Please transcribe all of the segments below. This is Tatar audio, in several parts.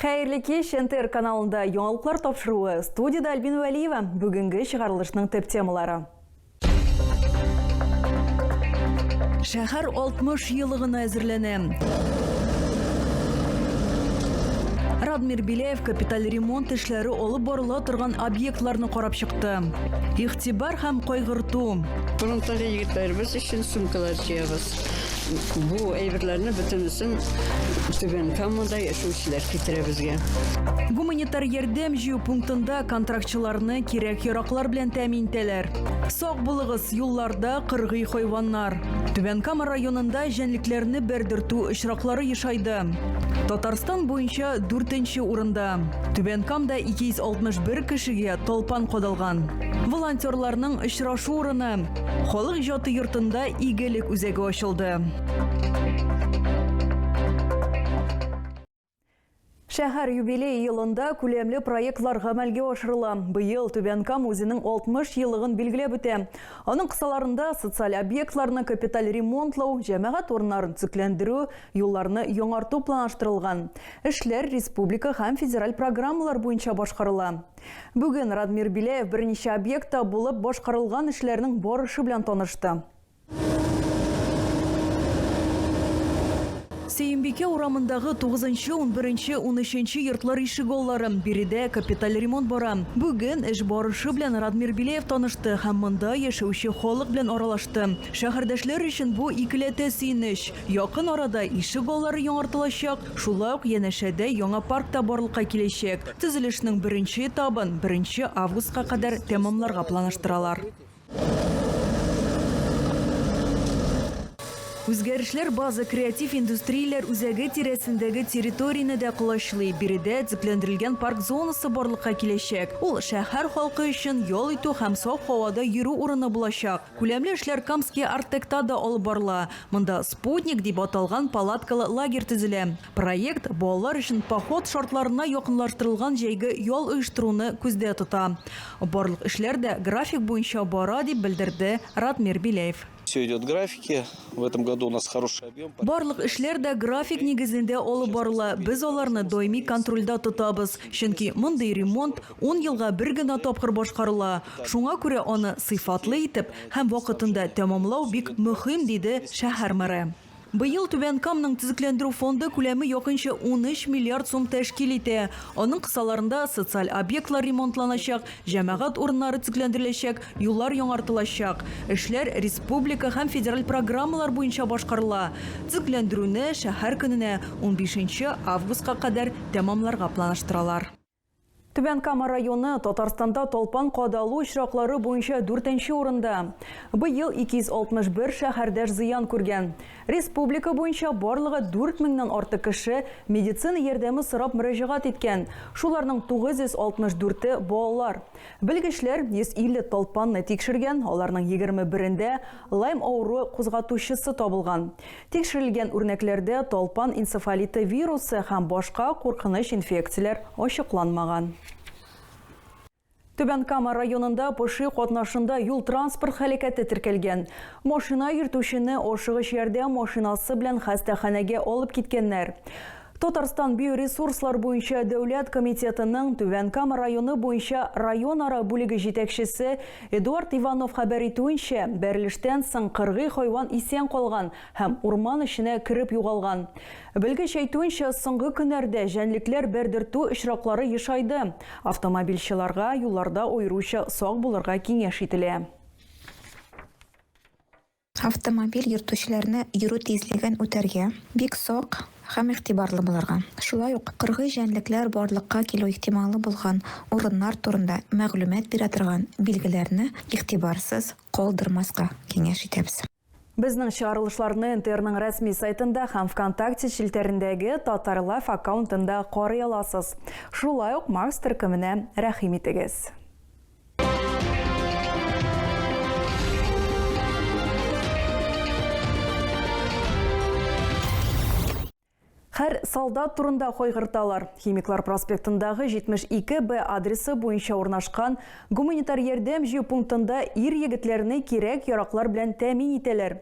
Хәерле кич! НТР каналында яңалыклар тапшыруы. Студиядә Альбина Вәлиева. Бүгенге чыгарылышның төп темалары. Шәһәр 60 елыгына әзерләнә. Радмир Беляев капиталь ремонт эшләре алып барыла торган объектларны карап чыкты. Игътибар һәм кайгырту. Фронттагы егетләребез өчен сумкалар җыябыз. Бу әйберләрне бөтенесен Түбән Камада яшәүчеләр китерә безгә. Гуманитар ярдәм җыю пунктында контрактчыларны кирәк-яраклар белән тәэмин итәләр. Сак булыгыз, юлларда кыргый хайваннар. Түбән Кама районында җәнлекләрне бәрдертү очраклары ешайды. Татарстан буенча дүртенче урында. Түбән Камда 261 кешегә талпан кадалган. Волонтерларның очрашу урыны. Халык иҗаты йортында игелек үзәге ачылды. Шәһәр юбилей елында күләмле проектлар гамәлгә ашырыла. Быел Түбән Кама үзенең 60 еллыгын билгеләп үтә. Аның кысаларында социаль объектларны капиталь ремонтлау, җәмәгать урыннарын төзекләндерү, юлларны яңарту планлаштырылган. Эшләр республика һәм федераль программалар буенча башкарыла. Бүген Радмир Биләев берничә объектта булып башкарылган эшләрнең барышы белән танышты. Сөембикә урамындагы 9-нчы, 11-нче, 13-нче йортлар ишегаллары. Биредә капиталь ремонт бара. Бүген эш барышы белән Радмир Билеев танышты һәм монда яшәүче халык белән аралашты. Шәһәрдәшләр өчен бу икеләтә сөенеч. Якын арада ише баллары яңартылачак, шулай ук янәшәдә яңа парк та барлыкка киләчәк. Төзелешнең беренче этабын беренче августка кадәр тәмамларга планаштыралар. Үзгәрешләр База креатив индустрияләр үзәге тирәсендәге территорияне дә колачлый. Биредә төпләндерелгән парк зонасы барлыкка киләчәк. Ул шәһәр халкы өчен ял итү һәм саф һавада йөрү урыны булачак. Күләмле эшләр Камский Арт-Текта да алып барыла. Монда Спутник дип аталган палаткалы лагерь төзелә. Проект балалар өчен поход шартларына якынлаштырылган җәйге ял оештыруны күздә тота. Барлык эшләр дә график буенча бара, дип белдерде Радмир Беляев. Все идет в графике. В этом году у нас хороший объем. Барлык эшләр дә график нигезендә алып барыла. Без аларны даими контрольдә тотабыз, чөнки мондый ремонт, Ун елга бер генә тапкыр башкарыла, шуңа күрә аны сыйфатлы итеп һәм вакытында тәмамлау бик мөһим, диде шәһәр мэры. Быел Түбән Камның төзекләндерү фонды күләме якынча унөч миллиард сум тәшкил итә. Аның кысаларында социаль объектлар ремонтланачак, җәмәгать урыннары төзекләндереләчәк, юллар яңартылачак. Эшләр республика һәм федераль программалар буенча башкарыла. Төзекләндерүне шәһәр көненә, унбишенче августка кадәр тәмамларга планлаштыралар. Түбән Кама районы Татарстанда талпан кадалу очраклары буенча дүртенче урында. Быел 261 шәһәрдәш зыян күргән. Республика буенча барлыгы 4 меңнән артык кеше медицина ярдәме сорап мөрәҗәгать иткән. Шуларның 964-е балалар. Белгечләр 150 талпанны тикшергән, аларның егерме берендә Лайм авыруы кузгатучысы табылган. Тикшерелгән үрнәкләрдә талпан энцефалиты вирусы һәм башка куркыныч инфекцияләр ачыкланмаган. Түбән Кама районында поши катнашында юл-транспорт һәлакәте теркәлгән. Машина йөртүчене ашыгыч ярдәм машинасы белән хастаханәгә алып киткәннәр. Татарстан биоресурслар буенча дәүләт комитетының Түбән Кама районы буенча районара бүлеге җитәкчесе Эдуард Иванов хәбәр итүенчә, бәрелештән соң кыргый хайван исән калган һәм урман эченә кереп югалган. Белгеч әйтүенчә, соңгы көннәрдә җәнлекләр бәрдертү очраклары ешайды. Автомобильчыларга юлларда аеруча сак булырга киңәш ителә. Автомобиль йөртүчеләрне йөрү тизлеген үтәргә бик сак һәм игътибарлы булырга, шулай ук кыргый җәнлекләр барлыкка килү ихтималы булган урыннар турында мәгълүмат бирә торган билгеләрне игътибарсыз калдырмаска киңәш итәбез. Безнең чыгарылышларны НТРның рәсми сайтында һәм ВКонтакте челтәрендәге Татарлайф аккаунтында карый аласыз. Шулай ук Марс төркеменә рәхим итегез. Хәр солдат турында кайгырталар. Химиклар проспектындагы 72 Б адресы буенча урнашкан гуманитар ярдәм җыю пунктында ир егетләрне кирәк яраклар белән тәэмин итәләр.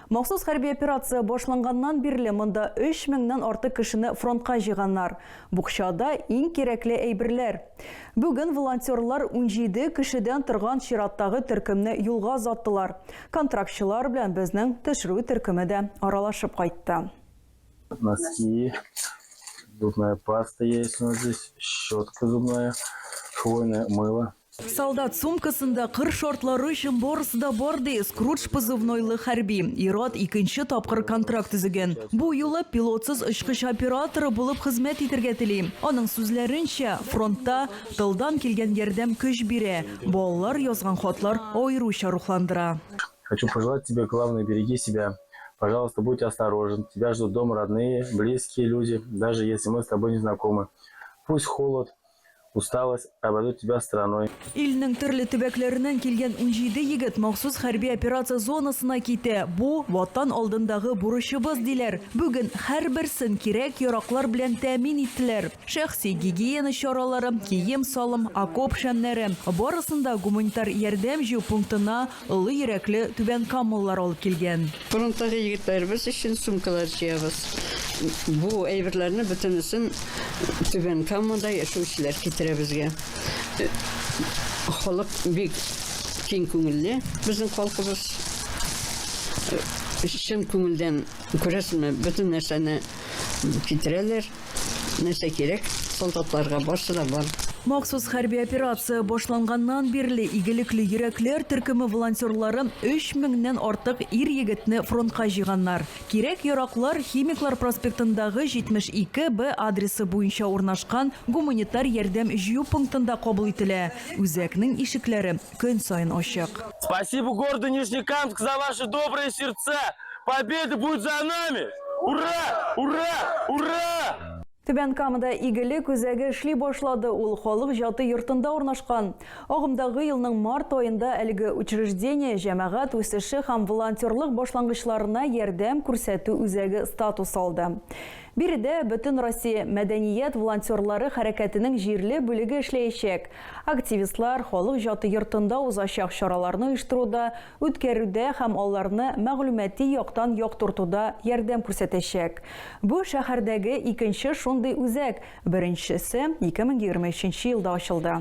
Махсус хәрби операция башланганнан бирле монда 3000 меңнән артык кешене фронтка җыйганнар. Букчада иң кирәкле әйберләр. Бүген волонтерлар унҗиде кешедән торган чираттагы төркемне юлга озаттылар. Контрактчылар белән безнең төшерү төркеме дә аралашып кайтты. Носки, зубная паста есть у нас здесь, щетка зубная, хвойное мыло. Солдат сумкасында кыр шартлары өчен барысы да бар, ди Скрудж позывнойлы хәрби. Ир-ат икенче тапкыр контракт төзегән. Бу юлы пилотсыз очкыч операторы булып хезмәт итәргә тели. Аның сүзләренчә, фронтта тылдан килгән ярдәм көч бирә. Балалар язган хатлар аеруча рухландыра. Хочу пожелать тебе главное береги себя пожалуйста будь осторожен тебя ждут дома родные близкие люди даже если мы с тобой не знакомы пусть холод Усталость обойдут тебя стороной. Илнең төрле төбәкләреннән килгән унҗиде егет махсус хәрби операция зонасына китә. Бу, Ватан алдындагы бурычыбыз, диләр. Бүген һәрберсен кирәк-яраклар белән тәэмин иттеләр. Шәхси гигиена чаралары, кием-салым, окоп шәмнәре, барысын да гуманитар ярдәм җыю пунктына, Олы йөрәкле түбәнкамалылар алып килгән. Фронттагы егетләребез өчен сумкалар җыябыз. Бу әйберләрне бөтенесен Түбән Камада яшәүчеләр китерә безгә. Халык бик киң күңелле безнең халкыбыз. Чын күңелдән, күрәсезме, бөтен нәрсәне китерәләр. Нәрсә кирәк солдатларга, барсы да бар. Махсус хәрби операция башланганнан бирле игелекле йөрәкләр төркеме волонтерлары өч меңнән артык ир-егетне фронтка җыйганнар. Кирәк-яраклар Химиклар проспектындагы 72 Б адресы буенча урнашкан гуманитар ярдәм җыю пунктында кабул ителә, үзәкнең ишекләре көн саен ачык. Спасибо городу Нижнекамск за ваши добрые сердца! Победа будет за нами! Ура! Ура! Ура! Түбән Камада игелек үзәге эшли башлады. Ул халык җаты йортында урнашкан. Агымдагы елның март аенда әлеге учреждение җәмәгать үсеше һәм волонтерлык башлангычларына ярдәм күрсәтү үзәге статус алды. Биредә Бөтенроссия мәдәният волонтерлары хәрәкәтенең җирле бүлеге эшләячәк. Активистлар Халык җаты йортында узачак чараларны оештыруда, үткәрүдә һәм аларны мәгълүмати яктан яктыртуда ярдәм күрсәтәчәк. Бу шәһәрдәге икенче шундый үзәк, беренчесе 2023 елда ачылды.